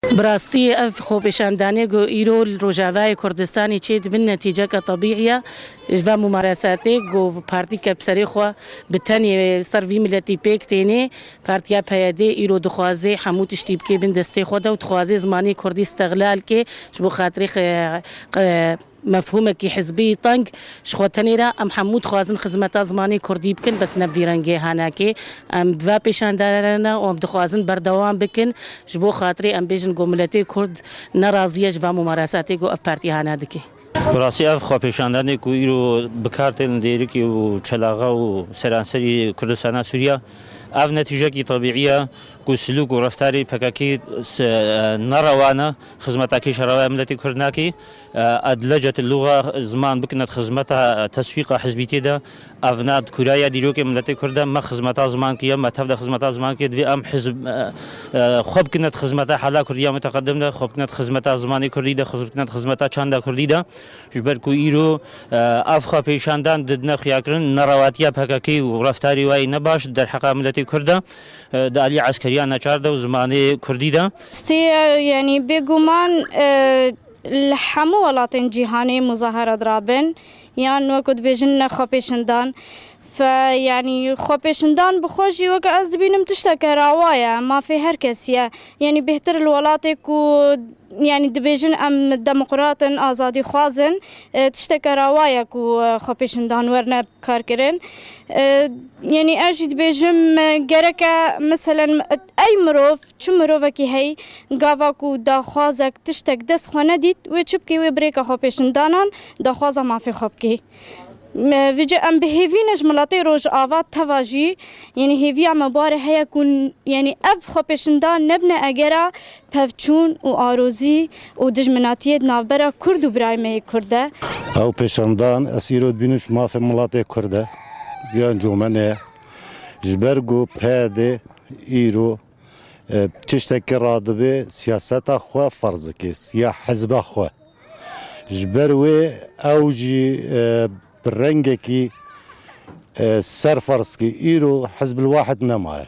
Bi rastî ev xwepêşandanê ku îro li Rojavayê Kurdistanê çê dibin netîceke tebîî ye ji van mûmaresetê ku partîyeke bi serê xwe bi tenê li ser vî miletî pêk têne. Partiya PYD îro dixwaze hemû tiştî bike bin destê xwe de û dixwaze zimanê kurdî steqlal ke ji bo xatirê Mefhûmekî hizbî teng ji xwe tenê re em hemû dixwazin xizmeta zimanê kurdî bikin bes ne bi vî rengê henekê em bi ve pêşandere re ne û em dixwazin berdewam bikin ji bo xatirê em bêjin ku miletê kurd ne razî ye ji van mumaresetê ku ev partî hene dike. Bi rastî ev xwepêşandanê ku îro bi kar tên li dêrikê û çelaxa û seranserî Kurdistana Sûriya ev ne tîjekî tabîî ye ku silûk û reftarê pkk ne rewa ne xizmeta kêşa rewa ya miletê kurd nake. Adlecet luxa ziman bikinet xizmeta teswîqa hizbîtiyê de. Ev ne kuraya dîrokê miletê kurd e. Me xizmeta zimankî ye. Me tev de xizmeta zimankî ye. Divê em hizb xwe bikinet xizmeta hela kurdî ya muteqedim de, xwe bikinet xizmeta zimanê kurdî de, xwe bikinet xizmeta çanda kurdî de. Ji ber ku îro ev xwepêşandan didine xuyakirin, nerewatiya pkk û reftarê wayî ne baş di derheqa miletê kurd de, di aliyê eskeriya neçar de û zimanê kurdî de. Stê ye, yanî bêguman. Li hemû welatên cîhanê muzahara dirabin yan wek ku dibêjin ne xwepêşindan fe yanî xwepêşindan bi xwe jî wek ez dibînim tişteke rawa ye, mafê her kesî ye. Yanî bêhtir li welatê ku yanî dibêjin em demokrat in, azadîxwaz in tişteke rawa ye ku xwepêşindan werne karkirin. Yanî ez jî dibêjim gereke meselen Ey mirov, çi mirovekî hey, gava ku daxwazek, tiştek dest xwe nedît, wê çi bikê, wê birêka xwepêşindanan daxwaza mafê xwe bikê. Vije em bi hêvî ne ji miletê Rojava teva jî, yanî hêviya me bare heye ku yanî ev xwepêşindan nebine egera pevçûn û arozî û dijminatiyê di navbera Kurd û birayê me yê Kurd de. Ew pêşandan, ez îro dibînim ji mafê miletê Kurd e, giyan comene ye. Ji ber ku PYD îro tiştekî radibê siyaseta xwe ferz dike ya hizba xwe. Ji ber wê ew jî bi rengekî ser ferz dike îro Hizbul Wahid nemaye.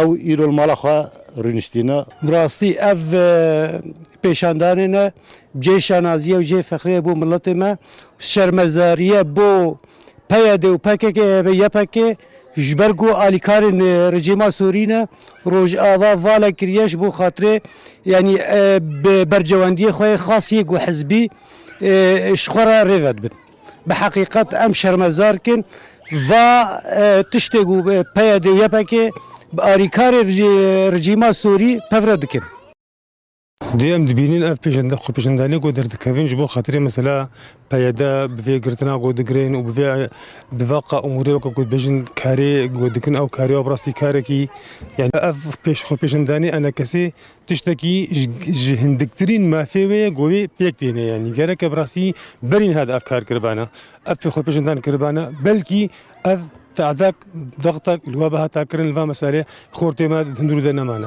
Ew îro li mala xwe rûniştîne. Bi rastî ev pêşandanê ne cihê şanaziyê û cihê fexriyê bo miletê me û şermezariye bo PYD'ê û PKK'ê hebe ypk ji ber ku alîkarên rejîma Sûrî ne Rojava vale kiriye ji bo xatirê yanî bi bercewendiyê xwe yê xas yê ku hizbî ji xwe re rê vedibin. Bi heqîqet em şermezar kin. Va tiştê ku PYD û YPG bi arîkarê rejîma Sûrî pevre dikin. Dê em dibînin ev xwepêşandanê ku derdikevin ji bo xatirê mesela PYD bi vê girtina ku digirin û bi va qamûrê weke ku dibêjin karê ku dikin ew karê ya bi rastî karekî ev xwepêşandanê enekesê Tiştekî ji hindiktirîn mafê wê ye ku wê pêk têne yanî gereke bi rastî berî niha di ev kar kiribana, ev pêxwepêşandan kiribana belkî ev tehdek, dextek li we ve hata kirin li va meselê xortê me di hundirû de nemane.